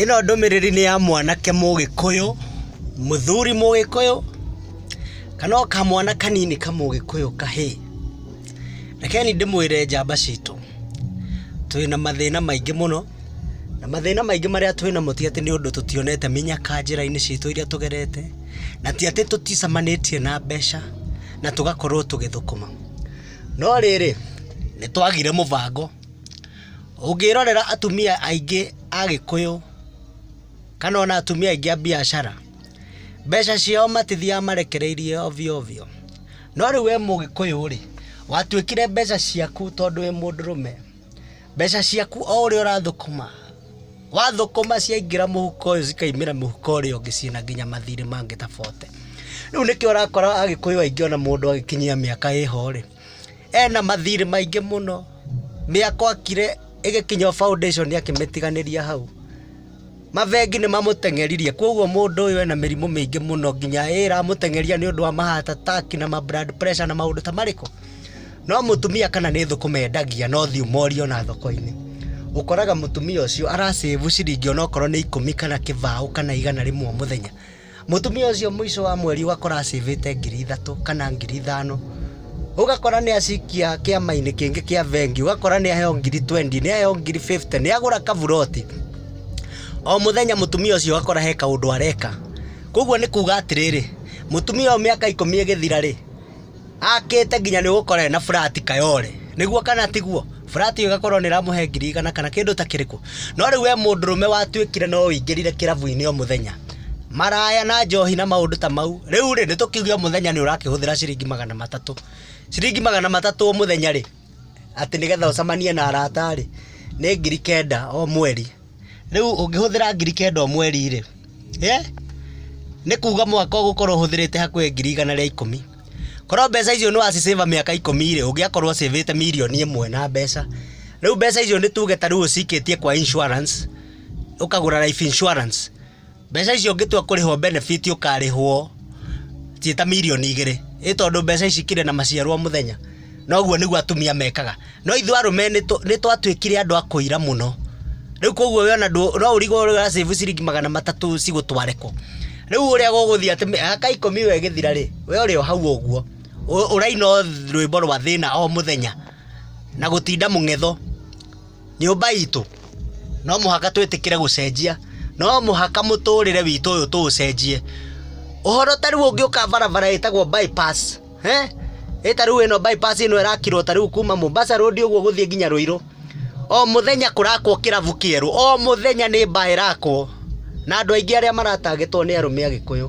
Ĩno ndũmĩrĩri nĩ ya mwanake mũgĩkũyũ, mũthuri mũgĩkũyũ, kana o kamwana kanini kamũgĩkũyũ kahĩĩ. Reke niĩ ndĩmwĩre njamba citũ, twĩna mathĩna maingĩ mũno, na mathĩna maingĩ marĩa twĩnamo ti atĩ nĩ ũndũ tũtionete mĩnyaka njĩra-inĩ citũ iria tũgerete, na ti atĩ tũticemanĩtie na mbeca na tũgakorwo tũgĩthũkũma. No rĩrĩ, nĩ twagire mũbango. Ũngĩrorera atumia aingĩ a Gĩkũyũ kana ona atumia aingĩ a mbiacara, mbeca ciao matithiaga marekereirie ovyo ovyo. No rĩu wĩ Mũgĩkũyũ rĩ, watuĩkire mbeca ciaku tondũ wĩ mũndũrũme, mbeca ciaku o ũrĩa ũrathũkũma, wathũkũma ciaingĩra mũhuko ũyũ cikaumĩra mũhuko ũrĩa ũngĩ ciĩna nginya mathirĩ mangĩ tofauti. Rĩu nĩkĩo ũrakora Agĩkũyũ aingĩ ona mũndũ agĩkinyia mĩaka ĩho rĩ Ena mathirĩ maingĩ mũno, mĩako akire ĩgĩkinya o foundation akĩmĩtiganĩria hau. Mabengi nĩ mamũteng'eririe, kwoguo mũndũ ũyũ ena mĩrimũ mĩingĩ mũno nginya ĩĩ ĩramũteng'eria nĩ ũndũ wa ma heart attack na ma blood pressure na maũndũ ta marĩkũ? No mũtumia kana nĩ thũkũma endagia na ũthiũ morie ona thoko-inĩ. Ũkoraga mũtumia ũcio ara save ciringi ona okorwo nĩ ikũmi kana kĩbaũ kana igana rĩmwe o mũthenya. Mũtumia ũcio mũico wa mweri ũgakora acĩvĩte ngiri ithatũ kana ngiri ithano, ũgakora nĩ acikia kĩama-inĩ kĩngĩ kĩa vengi, ũgakora nĩ aheo ngiri twendi, nĩ aheo ngiri bĩbute, nĩ agũra kaburoti. O mũthenya mũtumia ũcio ũgakora he kaũndũ areka. Kũguo nĩ kuuga atĩrĩrĩ, mũtumia ũyũ mĩaka ikũmi ĩgĩthira-rĩ, Akĩte nginya nĩ gũkorwo ena flat Kayole. Nĩguo kana tiguo? Flat ĩyo ĩgakorwo nĩ ĩramũhe ngiri igana kana kĩndũ ta kĩrĩkũ. No rĩu we mũndũrũme watuĩkire no ũingĩrire kĩrabu-inĩ o mũthenya. Maraya na njohi na maũndũ ta mau. Rĩu rĩ, nĩ tũkiuge o mũthenya nĩ ũrakĩhũthĩra ciringi magana matatũ. Ciringi magana matatũ o mũthenya rĩ, atĩ nĩgetha ũcemanie na arata rĩ, nĩ ngiri kenda o mweri. Rĩu ũngĩhũthĩra ngiri kenda o mweri-rĩ, nĩ kuga mwaka ũgũkorwo ũhũthĩrĩte hakuhĩ ngiri igana rĩa ikũmi. Korwo mbeca icio nĩ waci save mĩaka ikũmi-rĩ, ũngĩakorwo ũ save ĩte mirioni ĩmwe na mbeca. Rĩu mbeca icio nĩ tuge ta rĩu ũcikĩtie kwa insurance, ũkagũra life insurance. Mbeca icio ũngĩtua kũrĩhwo benefit ũkarĩhwo ciĩ ta mirioni igĩrĩ. Ĩ tondũ mbeca ici ikĩrĩ na maciaro o mũthenya? Na ũguo nĩguo atumia mekaga. No ithuĩ arũme nĩ twatuĩkire andũ a kũira mũno. Rĩu kwoguo we ona ndũ, no ũrigwo ũrĩa ũra save ciringi magana matatũ cigũtware kũ? Rĩu ũrĩa gũgũthiĩ atĩ aa ka ikũmi gegĩthira rĩ, we ũrĩ o hau ũguo. Ũraina o rwĩmbo rwa thĩna o mũthenya, na gũtinda mũng'etho. Nyũmba itũ no mũhaka twĩtĩkĩre gũcenjia, no mũhaka mũtũrĩre witũ ũyũ tũũcenjie. Ũhoro ta rĩu ũngĩũka barabara ĩtagwo bypass, ĩ ta rĩu ĩno bypass ĩno ĩrakirwo ta rĩu kuma Mombasa Road ũguo gũthiĩ nginya Rũirũ, o mũthenya kũrakwo kĩrabu kĩerũ, o mũthenya nĩ bar ĩrakwo, na andũ aingĩ arĩa mara target wo nĩ arũme agĩkũyũ.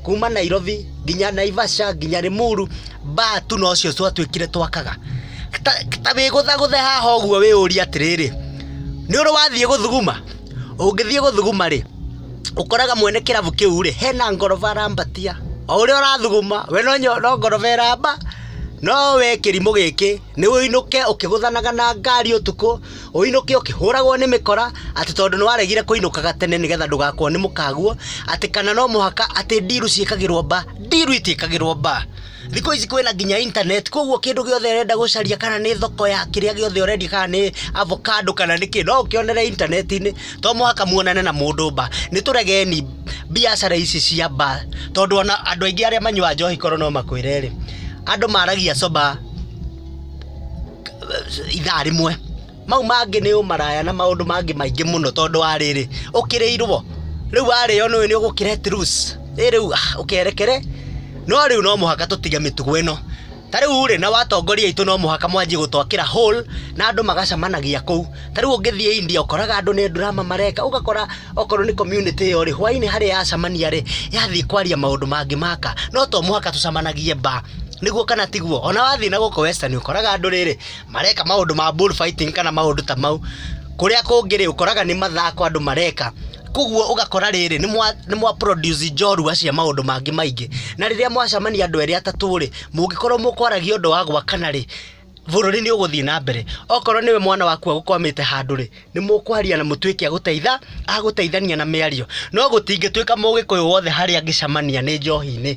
kuma nairobi nginya naivasha nginya rimuru mbaa tu nocio twatuĩkire twakaga ta ta wĩgũthagũthe haha ũguo wĩyũrie atĩrĩrĩ nĩ ũrĩ wathiĩ gũthuguma ũngĩthiĩ gũthuguma rĩ ũkoraga mwene kĩrabu kĩu rĩ hena ngoroba arambatia o ũrĩa ũrathuguma we no nyo- no ngoroba ĩramba no we kĩrimũ gĩkĩ nĩ ũinũke ũkĩgũthanaga na ngari ũtukũ ũinũke ũkĩhũragwo nĩ mĩkora atĩ tondũ nĩ waregire kũinũkaga tene nĩgetha ndũgakorwo nĩ mũkaguo atĩ kana no mũhaka atĩ ndiru ciĩkagĩrwo mba ndiru itiĩkagĩrwo mba thikũ ici kwĩna nginya internet koguo kĩndũ gĩothe ũrenda gũcaria kana nĩ thoko ya kĩrĩa gĩothe ũrendia kana nĩ avocado kana nĩ kĩ no ũkĩonere intaneti-inĩ to mũhaka muonane na mũndũ mba nĩ tũregeni biacara ici cia mba tondũ ona andũ aingĩ arĩa manyua njohi korwo no makwĩre rĩ andũ maragia coba ithaa rĩmwe. Mau mangĩ nĩ ũmaraya na maũndũ mangĩ maingĩ mũno tondũ wa rĩrĩ, ũkĩrĩirwo, rĩu warĩo nĩũĩ nĩ ũgũ create rules, ĩ rĩu ũkerekere, no rĩu no mũhaka tũtige mĩtugo ĩno. Ta rĩu rĩ, nao atongoria aitũ no mũhaka manjie gũtwakĩra hall na andũ magacemanagia kũu. ta rĩu ũngĩthiĩ India ũkoraga andũ nĩ drama mareka ũgakora okorwo nĩ community ĩyo rĩ hwainĩ harĩa yacamania rĩ yathiĩ kwaria maũndũ mangĩ maka no to mũhaka tũcamanagie ba nĩguo kana tiguo ona wathiĩ na gũkũ western ũkoraga andũ rĩrĩ mareka maũndũ ma bull fighting kana maũndũ ta mau kũrĩa kũngĩ rĩ ũkoraga nĩ mathako andũ mareka koguo ũgakora rĩrĩ nĩ mwa, nĩ mwa produce njorua cia maũndũ mangĩ maingĩ na rĩrĩa mwacamania andũ erĩ atatũ rĩ mũngĩkorwo mũkwaragia ũndũ wa gwakana rĩ bũrũri nĩ ũgũthiĩ na mbere okorwo nĩwe mwana waku agũkwamĩte handũ rĩ nĩ mũkwaria na mũtuĩke agũteitha agũteithania na mĩario no gũtingĩtuĩka mũgĩkũyũ wothe harĩa angĩcamania nĩ njohi-inĩ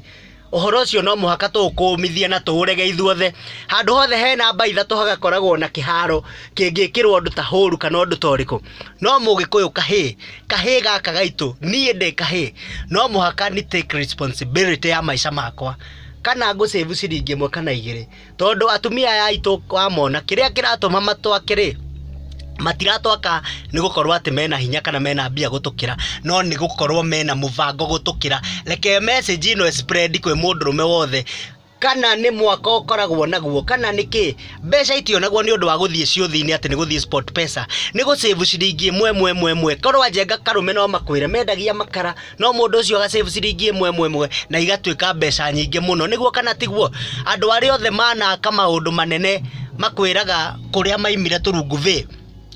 ũhoro ũcio no mũhaka tũũkũmithie na tũũrege ithuothe handũ hothe hena mba ithatũ hagakoragwo na kĩharo kĩngĩkĩrwo ũndũ ta hũru kana ũndũ ta ũrĩkũ no mũgĩkũyũ kahĩĩ kahĩĩ gaka gaitũ niĩ ndĩ kahĩĩ no mũhaka ni take responsibility ya maica makwa kana ngũ save ciringi ĩmwe kana igĩrĩ tondũ atumia aya aitũ wamona kĩrĩa kĩratũma matwake rĩ matiratwaka nĩ gũkorwo atĩ mena hinya kana mena mbia gũtũkĩra no nĩ gũkorwo mena mũbango gũtũkĩra reke message ino spread kwĩ mũndũrũme wothe kana nĩ mwaka ũkoragwo naguo kana nĩ kĩ mbeca itionagwo nĩ ũndũ wa gũthiĩ ciũthi-inĩ atĩ nĩ gũthiĩ sport pesa nĩ gũcĩbu ciringi ĩmwe ĩmwe ĩmwe ĩmwe korwo ajenga karũme no makwĩre mendagia makara no mũndũ ũcio agacĩbu ciringi ĩmwe ĩmwe ĩmwe na igatuĩka mbeca nyingĩ mũno nĩguo kana tiguo andũ arĩa othe manaka maũndũ manene makwĩraga kũrĩa maimire tũrungu vĩ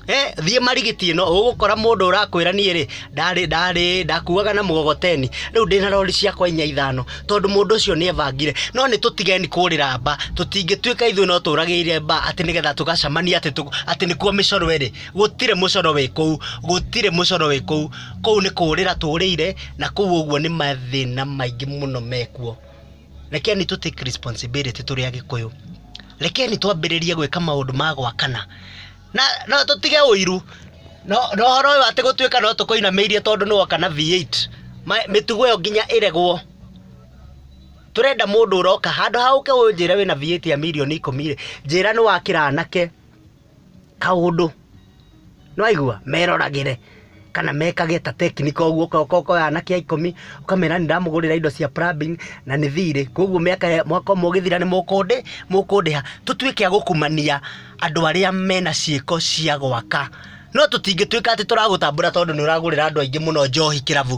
Eh, thiĩ marigiti ĩno ũgũkora mũndũ ũrakwĩra niĩ rĩ ndarĩ ndarĩ ndakuaga na mũgogoteni rĩu ndĩ na rori ciakwa inya ithano tondũ mũndũ ũcio nĩ ebangire no nĩ tũtigeni kũrĩra mba tũtingĩtuĩka ithuĩ no tũragĩire mba atĩ nĩgetha tũgacamania atĩ tũ- atĩ nĩkuo mĩcoro ĩrĩ gũtirĩ mũcoro wĩ kũu gũtirĩ mũcoro wĩ kũu kũu nĩ kũũrĩra tũũrĩire na kũu ũguo nĩ mathĩna maingĩ mũno mekuo rekeni tũ take responsibility tũrĩ agĩkũyũ rekeni twambĩrĩrie gwĩka maũndũ ma gwakana na no tũtige ũiru no no ũhoro ũyũ atĩ gũtuĩka no tũkũinamĩirie tondũ nĩ woka na V8 ma- mĩtugo ĩyo nginya ĩregwo tũrenda mũndũ ũroka handũ ha ũke ũnjĩre wĩna V8 ya mirioni ikũmi rĩ njĩra nĩ wakĩra anake kaũndũ nĩ waigua meroragĩre kana mekage ta teknika ũguo ũkoya anake a ikũmi ũkamera nĩ ndamũgũrĩra indo cia plumbing na nĩ thirĩ koguo mĩaka mwaka ũmwe ũgĩthira nĩ mũkũndĩha tũtuĩke a gũkumania andũ arĩa mena ciĩko cia gwaka no tũtingĩtuĩka atĩ tũragũtambũra tondũ nĩ ũragũrĩra andũ aingĩ mũno njohi kĩrabu.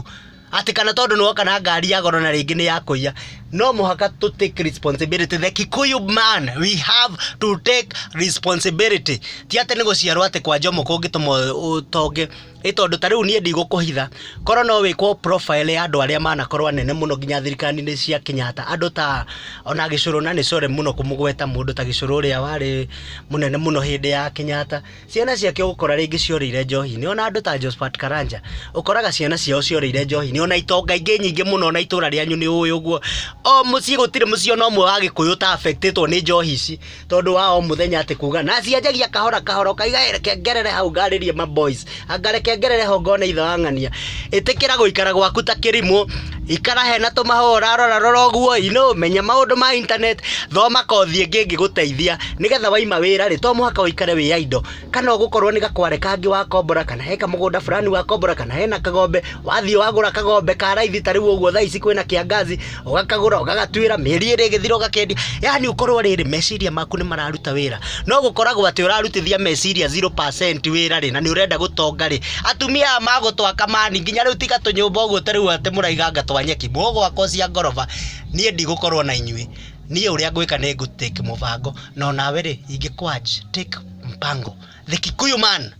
Ati kana tondu ni woka na ngari ya goro na ringi ni ya kuiya. No muhaka to take responsibility. The Kikuyu man, we have to take responsibility. Ti ati ni guciarwo ati kwa njomo kungituma utonge. Ni tondu ta riu nie ndigũkũhitha. Korwo no wikwo profile ya andu aria manakorwo anene muno nginya thirikari-ini cia Kenyatta. Andu ta ona Gicurũ na ni sorry muno kumũgweta mundu ta Gicurũ uria wari munene muno hindi ya Kenyatta. Ciana ciake ũgũkora rĩngĩ cioreire njohi-inĩ, ona andũ ta Josphat Karanja, ũkoraga ciana ciao cioreire njohi-inĩ, ona itonga ingĩ nyingĩ mũno ona itũra rĩanyu nĩ ũĩ ũguo, o mũciĩ gũtirĩ mũciĩ ona ũmwe wa Gĩkũyũ ũta affect-ĩtwo nĩ njohi ici, tondũ wa o mũthenya atĩ kuga, na cianjagia kahora kahora, ũkaiga he reke ngerere hau ngarĩrie ma boys, anga reke ngerere ho ngone ithe wa ng'ania, ĩtĩkĩra gũikara gwaku ta kĩrimũ. ikara hena tũmahũa ũrarora rora ũguo inũ menya maũndũ ma internet thoma kothi ĩngĩ ĩngĩgũteithia nĩgetha waima wĩra rĩ to mũhaka ũikare wĩ idle kana ũgũkorwo nĩ gakware kangĩ wakombora kana he kamũgũnda fulani wakombora kana hena kagombe wathiĩ wagũra kagombe ka raithi ta rĩu ũguo thaa ici kwĩna kĩangazi ũgakagũra ũgagatuĩra mĩeri ĩrĩ ĩgĩthira ũgakendia yani ũkorwo rĩrĩ meciria maku nĩ mararuta wĩra no gũkoragwo atĩ ũrarutithia meciria 0% wĩra rĩ na nĩ ũrenda gũtonga rĩ atumia aya magũtwaka mani nginya rĩu tiga tũnyũmba ũguo ta rĩu atĩ mũraiganga twa nyeki mũgwakwo cia ngoroba niĩ ndigũkorwo na inyuĩ niĩ ũrĩa ngwĩka nĩ ngũtake mũbango no nawe rĩ ingĩkwanj take mpango the kikuyu man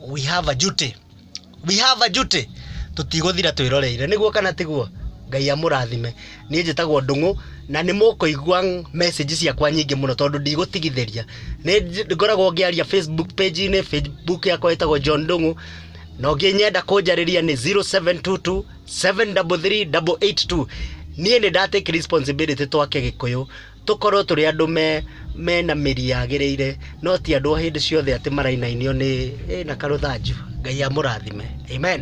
we have a duty we have a duty tutigũthira twĩroreire nĩguo kana tiguo ngai amũrathime niĩ njĩtagwo ndũng'ũ na nĩ mũkũigua message ciakwa nyingĩ mũno tondũ ndigũtigithĩria nĩ ngoragwo ngĩaria facebook page-inĩ facebook yakwa ĩtagwo john ndũng'ũ na ũngĩ nyenda kũnjarĩria nĩ 0722 733 882 niĩ nĩ ndatake responsibility twake gĩkũyũ tũkorwo tũrĩ andũ me mena mĩri yagĩrĩire no ti andũ o hĩndĩ ciothe atĩ marainainio nĩ ĩ na karũthanju ngai amũrathime amen